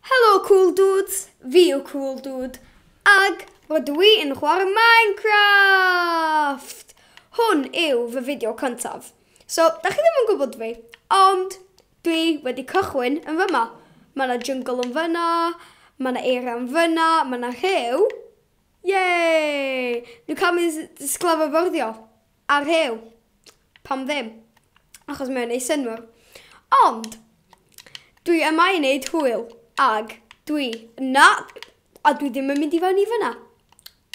Helo Cool Dudes, fi yw Cool Dude, ag rydw i yn chwarae Minecraft! Hwn yw fy fideo cyntaf. So, da chi ddim yn gwybod fi, ond dwi wedi cychwyn yn fyma. Mae yna jungle yn fyna, mae yna eira yn fyna, mae yna rhew. Yay! Dwi'n cael mynd sglafo fyrdio. A rhew! Pam ddim? Achos mae o'n neud synnwyr. Ond, dwi yma i neud hwyl, ag dwi, na, a dwi ddim yn mynd i fewn i fyna.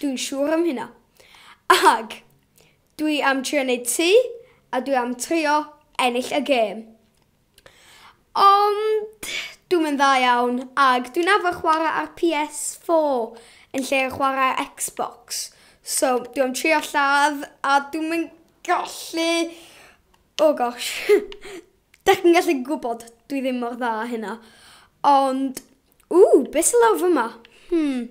Dwi'n siŵr am hynna. Ag, dwi am trio neud tŷ, a dwi am trio ennill y gêm. Ond dwi'm yn dda iawn ag dwi'n arfer chwarae ar PS4 yn lle chwarae ar Xbox so dwi am trio lladd a dwi'm yn gallu oh gosh dach chi'n gallu gwybod dwi ddim mor dda â hynna ond ww be sy lawr fyma? Hmm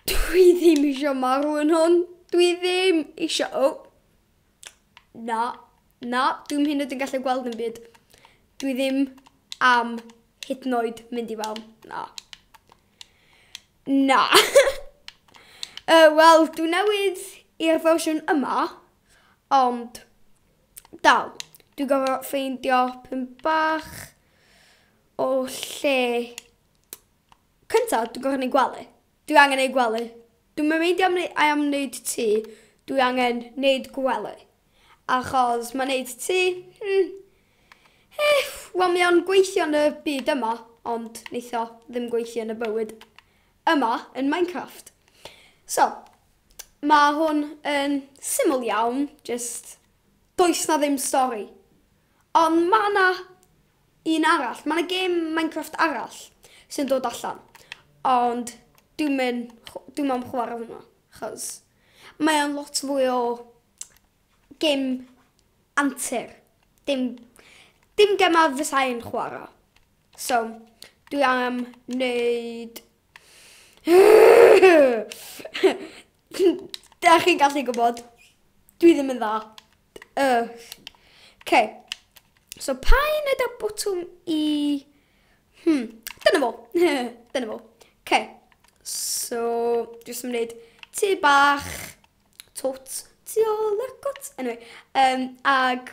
dwi ddim isio marw yn hwn dwi ddim isio o! Na, na, dwi'm hyn yn gallu gweld yn byd. Dwi ddim am hyd yn oed mynd i fewn. Na. Na. uh, Wel, dwi newydd i'r fersiwn yma, ond dal, dwi'n gorfod ffeindio pyn bach o lle. Cyntaf, dwi'n gorfod ei gwely. Dwi angen ei gwely. Dwi'm yn meindio am i am neud tŷ, dwi angen neud gwely. Achos ma' neud tŷ, hmm, eh, wel mae o'n gweithio yn y byd yma, ond neith o ddim gweithio yn y bywyd yma yn Minecraft. So, ma' hwn yn syml iawn, jyst does na ddim stori. Ond ma' na Un arall, mae yna gêm Minecraft arall sy'n dod allan, ond dwi'n mynd, dwi'n am chwarae hwnna, chos mae o'n lot fwy o gêm antur, dim, dim gemau fysai'n chwarae. So, dwi am wneud... Dach chi'n gallu gwybod. Dwi ddim yn dda. Ugh. Okay. So pa un yda botwm i... Hmm, dyna fo. dyna fo. Okay. So, jyst yn gwneud tu bach, tot, tu ôl y cwt. Anyway, um, ag...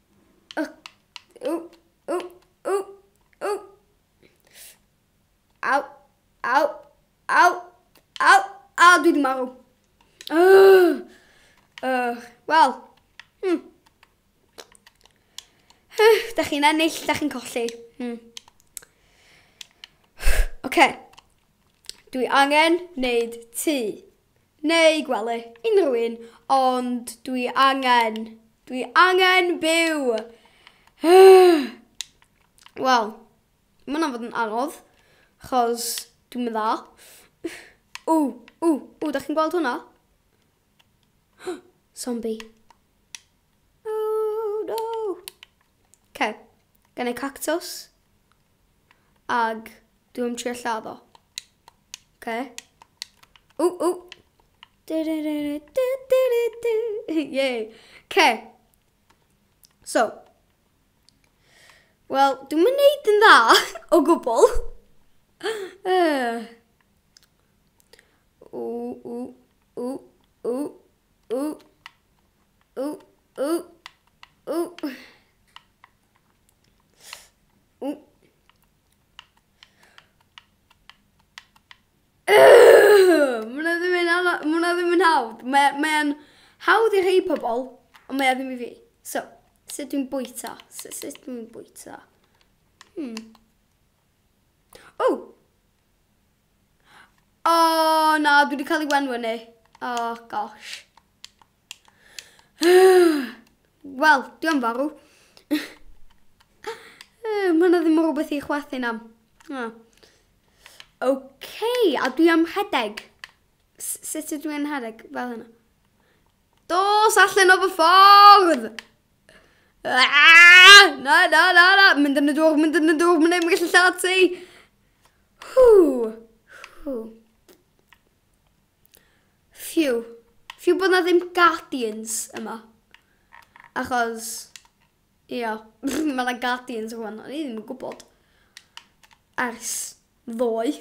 Ww, ww, ww, ww. Aw, aw, aw, aw, aw, dwi di marw. Uh, uh, Wel, hmm. Uh, da chi'n ennill, da chi'n colli. Hmm. Oce. Okay. Dwi angen wneud tŷ. Neu gwely, unrhyw un, ond dwi angen, dwi angen byw! Wel, mae hwnna'n fod yn anodd, chos dwi'n mynd dda. Ww, ww, ww, da chi'n gweld hwnna? Zombie. Ok, gen i cactws. Ag dwi'n trio lladdo. Ok. O, o. Yay. Ok. So. Wel, dwi'n mynd neud yn dda o gwbl. O, o, o, o, o, Ooh, ooh, ooh. Ooh. Mwna ddim yn hawdd, mwna ddim yn hawdd. Mae'n hawdd i rhai pobl, ond mae ddim i fi. So, sut dwi'n bwyta? Sut dwi'n bwyta? Hmm. Oh! Oh, na, dwi wedi cael ei wenw ni. Oh, gosh. Wel, dwi am farw. Mae yna ddim rhywbeth i chwerthu na. Oh. Okay, a dwi am rhedeg. Sut ydw i'n rhedeg? Fel hynna. Dos allan o fy ffordd! Aaaaah! Na, na, na, na! Mynd yn y dŵr, mynd yn y dŵr, mynd yn y gallu lladd ti! Hw! Hw! Phew. Phew bod na ddim Guardians yma. Achos... Ia, mae na Guardians rwan, o'n i ddim yn gwybod. Ers ddoe.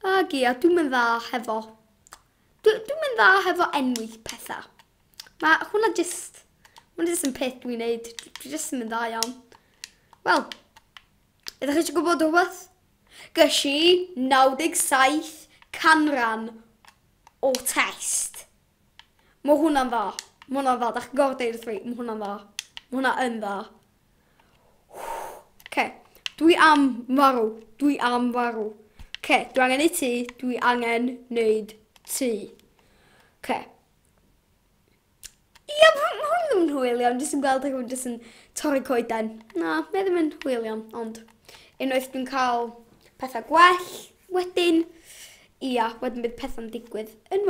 Ac ia, dwi'n mynd dda hefo Dw, dwi'n mynd dda hefo enwi pethau. Mae hwnna just... Mae'n just yn peth dwi'n neud. Dwi just yn mynd dda iawn. Wel, ydych chi eisiau gwybod rhywbeth? Gys i 97 canran o test. Mae hwnna'n dda. Mae hwnna'n dda. Da chi'n gorfod deud wrth fi. Mae hwnna'n dda. Mae hwnna yn dda. Oce, dwi am farw, dwi am farw. Oce, dwi angen ei ti, dwi angen neud ti. Oce. Ia, ma' ma' hwn ddim yn hwyl iawn, jyst yn gweld rhywun jyst yn torri coeden. Na, mae ddim yn hwyl iawn, ond unwaith dwi'n cael pethau gwell wedyn, ia, wedyn bydd pethau'n digwydd yn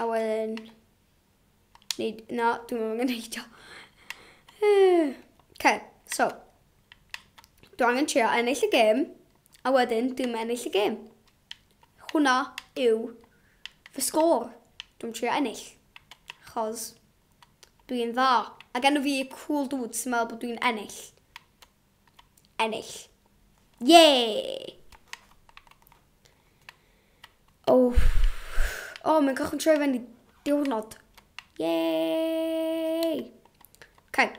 A wedyn... Neud... Na, dwi'n meddwl angen neud o. Okay, so. Dwi angen trio ennill y gêm. A wedyn, dwi'n ennill y gêm. Hwna yw fy sgôr. Dwi'n trio ennill. Chos dwi'n dda. A gen i fi cool dudes sy'n meddwl bod dwi'n ennill. ennill. Ie! O, o, mae'n cychwyn troi fe'n i diwrnod. Ie! Okay.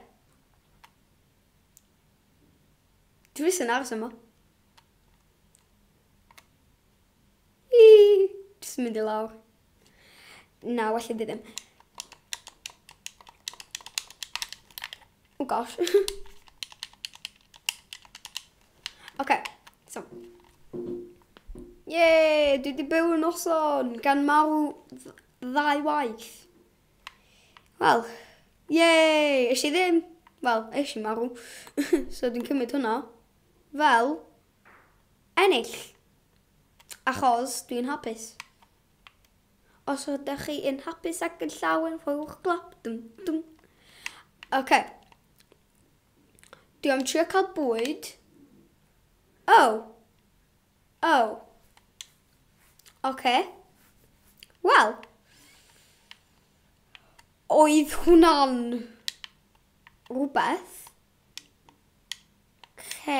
Dwi jyst yn aros yma. Jyst yn mynd i lawr. Na, well i fi ddim. Oh gosh. okay, so. Yay, dwi di byw yn noson gan marw ddau waith. Wel, yay, eis i ddim. Wel, eis i marw. so dwi'n cymryd hwnna. Fel, ennill. Achos dwi yn hapus. Os ydych chi yn hapus ac yn llawen, rhowch glap. Dum, dum. OK. Dwi am trio cael bwyd. Oh. Oh. OK. Wel. Oedd hwnna'n rhywbeth. Lle.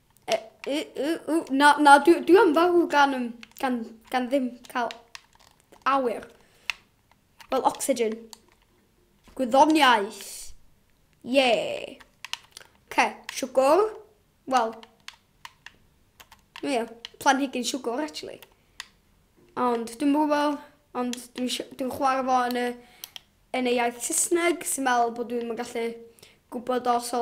Na, na, dwi, dwi am farw gan, um, gan, gan ddim cael awyr. Wel, oxygen. Gwyddoniaeth. Ie. Yeah. Ce, siwgwr. Wel. Ie, yeah, planhigyn siwgwr, actually. Ond, dwi'n gwybod, ond dwi'n dwi, dwi chwarae fo yn y, yn y iaith Saesneg, sy'n meddwl bod dwi'n gallu gwybod os o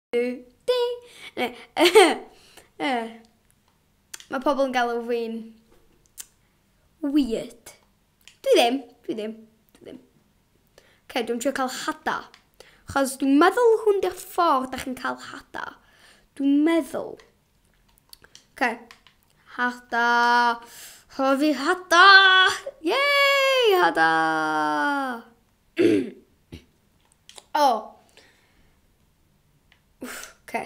Mae pobl yn galw fi'n weird. Dwi ddim, dwi ddim, dwi ddim. Ok, dwi'n trio cael hada. Chos dwi'n meddwl hwn di'r ffordd da chi'n cael hada. Dwi'n meddwl. Ok. Hada. Hofi hada. Yay, hada. O! Wff, oce.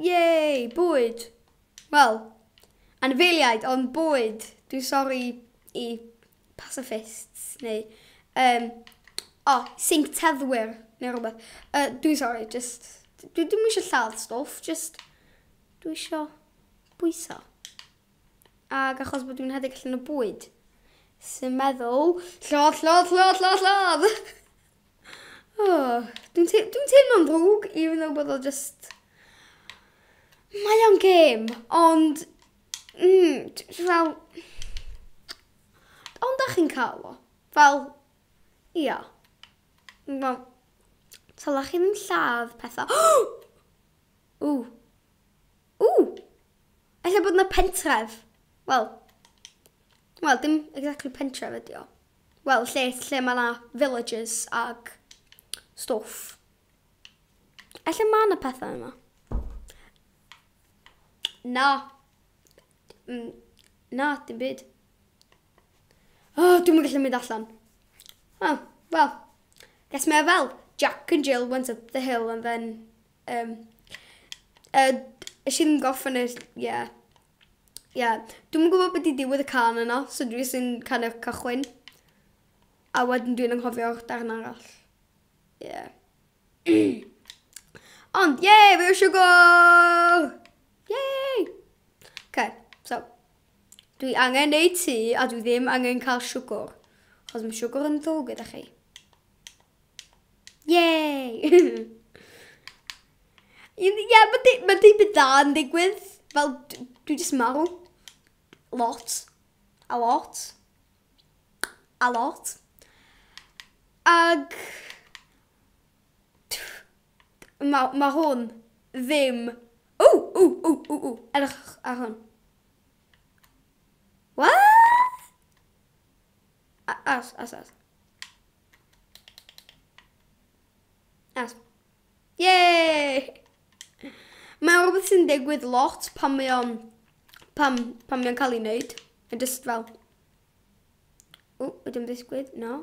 Yay, bwyd! Wel, anifeiliaid, ond bwyd. Dwi'n sori i pacifists, neu... Um, o, oh, sync teddwyr, neu rhywbeth. Uh, dwi'n sori, just... Dwi ddim eisiau lladd stwff, just... Dwi eisiau bwyso. Ac achos bod dwi'n rhedeg allan o bwyd, sy'n meddwl, llodd, llodd, llodd, llodd, llodd! oh, dwi'n te dwi teimlo'n ddrwg, even though bod o just... Mae o'n gêm, ond... Mm, fel... Ond da chi'n cael o. Fel, ia. Fel, tala chi ddim lladd pethau. Ww! Ww! Ella bod yna pentref. Wel, wel, dim exactly pentref ydi o. Wel, lle, lle mae yna villages ac stwff. Ella mae yna pethau yma. Na. Mm, na, dim byd. O, oh, dwi'n gallu mynd allan. Oh, well, guess mae fel Jack and Jill went up the hill and then Yym yy esh i ddim gorffen e ie. Ie. Dwi'm yn gwbo be' 'di diwedd y cân yna so dwi jys yn kind of cychwyn. A wedyn dwi'n anghofio'r darn arall. Ie. Ond ie fi eisiau gôl! Yay! Oce so dwi angen neud tŷ a dwi ddim angen ca'l siwgwr. Achos ma' siwgwr yn ddrwg gyda chi. Yay! Ie, yeah, mae di, ma di byd da yn digwydd. Fel, dwi jyst marw. Lot. A lot. A lot. Ag... Mae ma hwn ddim... O, o, o, o, o, edrych ar hwn. What? As, as, as. As. Yay! Mae rhywbeth sy'n digwydd lot pan mae o'n... Pam, pam mae o'n cael ei wneud. Yn just fel... O, ydym ddisgwyd? No.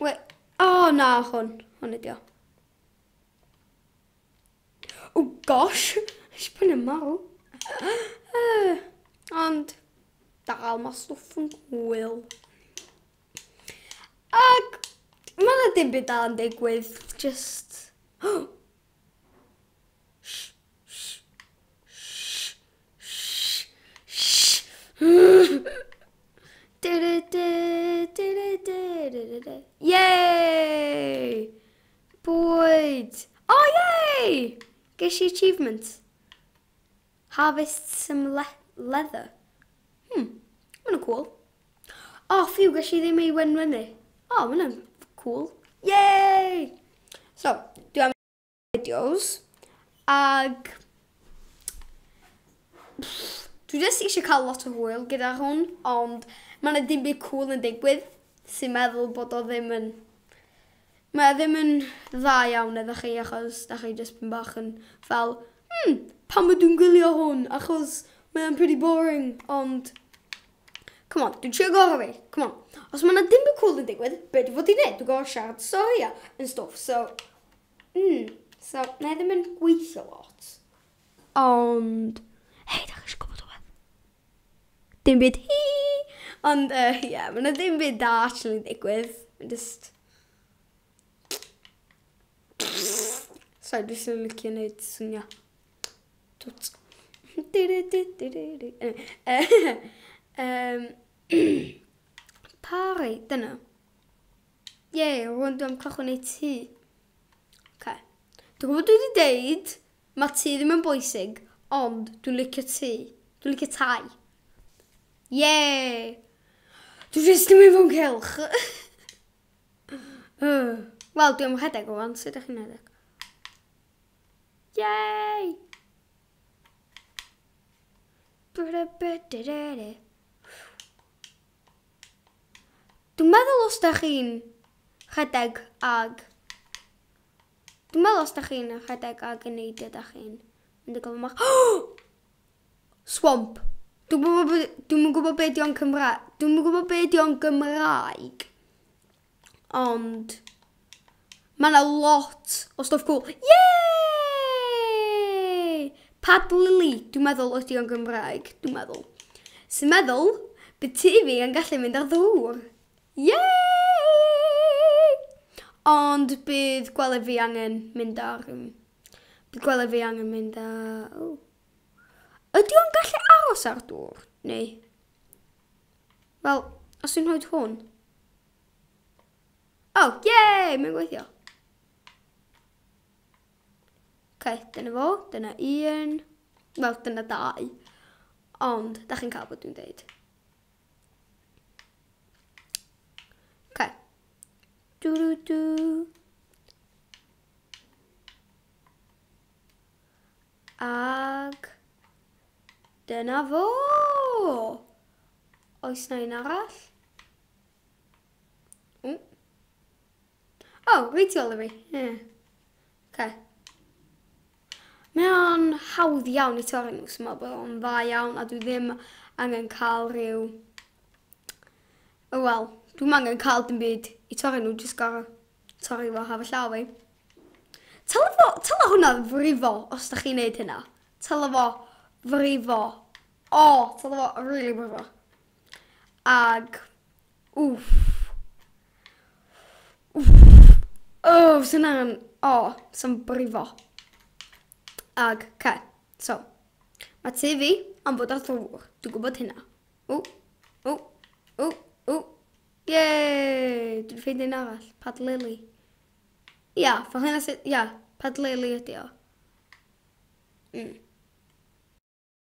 We... O, oh, na, hwn. Hwn ydi o. Oh gosh, eisiau pwyn yn marw. Ond, dal mae stwff yn gwyl. Ac, mae yna dim byd dal yn digwydd, just... Yay! Bwyd! O yay! Ges i achievement. Harvest some le leather. Hmm, mae'n cool. O, oh, ffiw, ges i ddim ei wenwenu. O, oh, mae'n cool. Yay! So, dwi am videos. Ag... Dwi jyst eisiau cael lot o hwyl gyda hwn, ond mae yna dim byd cool yn digwydd sy'n meddwl bod o ddim yn Mae e ddim yn dda iawn iddo chi achos dach chi jyst tipyn bach yn fel hmm, pam ydw i'n gwylio hwn achos mae e'n pretty boring ond come on, dwi'n trio gorau fi, come on. Os mae yna dim byd cwl yn digwydd, be dwi fod i'n neud? Dwi'n gorau siarad y stori a yn stwff so mm, so mae e ddim yn gweithio lot. Ond, hei, dach chi eisiau gwybod rhywbeth? Dim byd hi! Ond, ie, uh, yeah, mae yna ddim byd da actually ddigwydd. Mae'n just... Sorry, dwi'n sy'n licio wneud swnio. Twt. um, Pari, dyna. Ie, yeah, rwy'n dwi'n cychwyn ei ti. Okay. Dwi'n gwybod dwi wedi deud Mae tŷ ddim yn bwysig, ond dwi'n licio tŷ. Dwi'n licio tai. Yay! Dwi jyst yn mynd fo'n cylch. Wel, dwi'n rhedeg o fan, sut ydych chi'n rhedeg? Yay! Dwi'n meddwl os da chi'n rhedeg ag Dwi'n meddwl os da chi'n rhedeg ag yn neidio da chi'n mynd y gofyn mach. Swamp. Dwi'n gwybod be, dwi'm yn gwybod be di o'n Cymraeg. Dwi'm yn gwybod be di o'n Gymraeg. Ond mae yna lot o stwff cool. Yay! Pad Lily, dwi'n meddwl ydi o'n Gymraeg, dwi'n meddwl. Sy'n meddwl, bydd ti fi yn gallu mynd ar ddŵr. Yay! Ond bydd gwely fi angen mynd â rhywun. Bydd gwely fi angen mynd â... O. Ydy o'n gallu aros ar dŵr? Neu... Wel, os dwi'n rhoi hwn... O, oh, yay! Mae'n gweithio. Ok, dyna fo. Dyna un. Wel, dyna dau. Ond, da chi'n cael bod dwi'n dweud. Okay. Do do do. Ag dyna fo. Oes na un arall? O, oh, reitiol i fi. Yeah. Okay. Mae o'n hawdd iawn i torri nhw, so mae bod o'n dda iawn a dwi ddim angen cael rhyw... O wel, dwi'm angen cael dim byd i torri nhw, jyst gorau torri fo haf y llaw fi. Tyla fo, tyla hwnna frifo os da chi'n neud hynna. Tyla fo frifo. O, tyla fo really brifo. Ag Wff. Wff. O, fyswn na'n... O, sy'n brifo. Ag, ce. So, mae tu fi am fod ar ddŵr. Dwi'n gwybod hynna. O, o, o, o. Ie, dwi'n ffeind un arall. Pad Lily. Ia, fo hynna sydd... Ia, Pad Lily ydi o. Mm.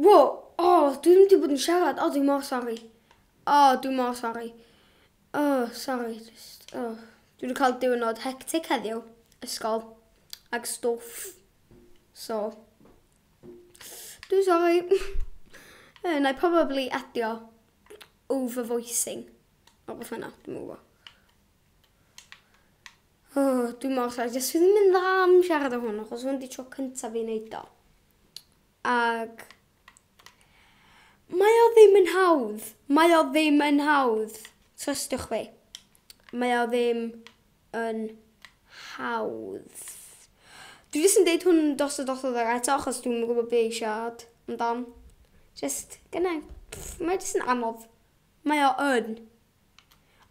Wo, o, dwi ddim wedi bod yn siarad. O, dwi mor sori. O, dwi mor sori. O, sori, just, o. Dwi wedi cael diwrnod hectic heddiw, ysgol, ag stwff. So, dwi'n sori. Eh, na i probably adio over-voicing. O, beth yna, dwi'n mwyn Oh, dwi mor sori, jyst fi ddim yn dda am siarad o hwn, achos hwn di tro cyntaf fi'n neud o. Ag... Mae o ddim yn hawdd. Mae o ddim yn hawdd. Trystiwch fi. Mae o ddim yn hawdd. Dwi jyst yn deud hwn dos o dos o ddod eto, achos dwi'n yn gwybod be i siarad amdan. Jyst, gynnau. Mae jyst yn anodd. Mae o yn.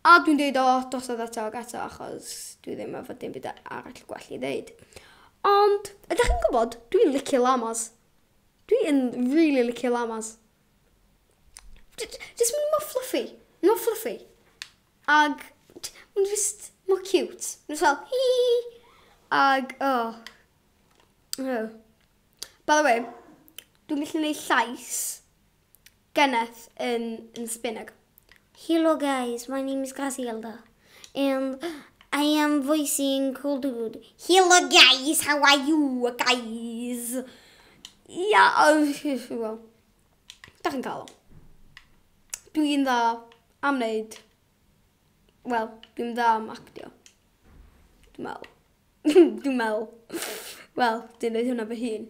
A dwi'n deud o drosodd eto ac eto achos dwi ddim efo dim byd arall gwell i ddeud. Ond, ydych chi'n gwybod, dwi'n licio llamas. Dwi yn really licio llamas. Jyst maen nhw mor fluffy. Maen nhw mor fluffy. Ac maen nhw jyst mor cute. Maen nhw fel hi hi hi. Ac, o. Oh. By the way, dwi'n gallu gwneud llais. Geneth yn yn spinag. Helo guys, my name is Gracielda and I am voicing Cool Dude. Helo guys, how are you guys? Ia, wel, da chi'n cael o. Dwi'n dda am wneud, wel, dwi'n dda am actio. Dwi'n meddwl. dwi'n meddwl. Wel, dwi'n dweud hwnna fy hun.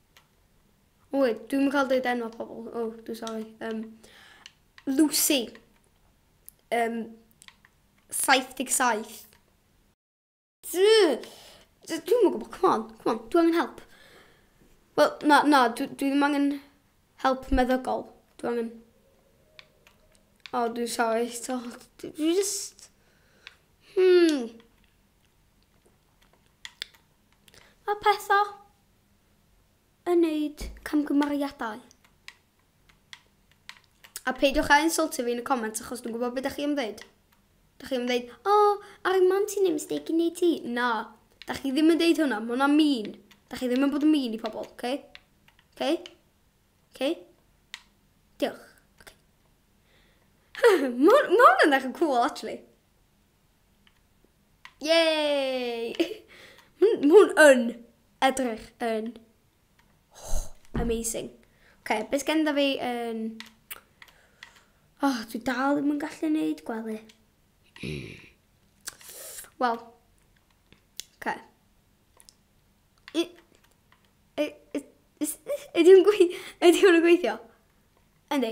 Wy, dwi'n cael dweud enw pobl. O, oh, dwi'n sori. Um, Lucy. Um, 77. Dwi'n mwyn gwybod, come on, come on, dwi'n angen help. Wel, na, na, dwi, dwi ddim angen help meddygol. Dwi angen... O, oh, dwi'n sorry. So, dwi just... Hmm. A pethau. yn neud camgymeriadau. A peidiwch a insultio fi yn y comments achos dwi'n gwybod beth ydych chi am ddeud. Dych chi am ddeud, o, oh, ar y man ti'n ei mistake yn ei ti. Na, dych chi ddim yn deud hwnna, mae hwnna mean. Dych chi ddim yn bod yn mean i pobl, oce? Okay? Oce? Okay? Oce? Okay? Diolch. Okay. mae hwnna'n eich cool, actually. Yay! Mae hwn yn edrych yn oh, amazing. Ok, beth gen da fi yn... O, oh, dwi dal ddim yn gallu neud gwely. Wel, ok. Ydy hwn yn gweithio? Ydy.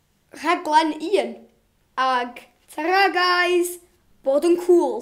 Rhaglen un, ag. Tara guys! Bod yn cŵl!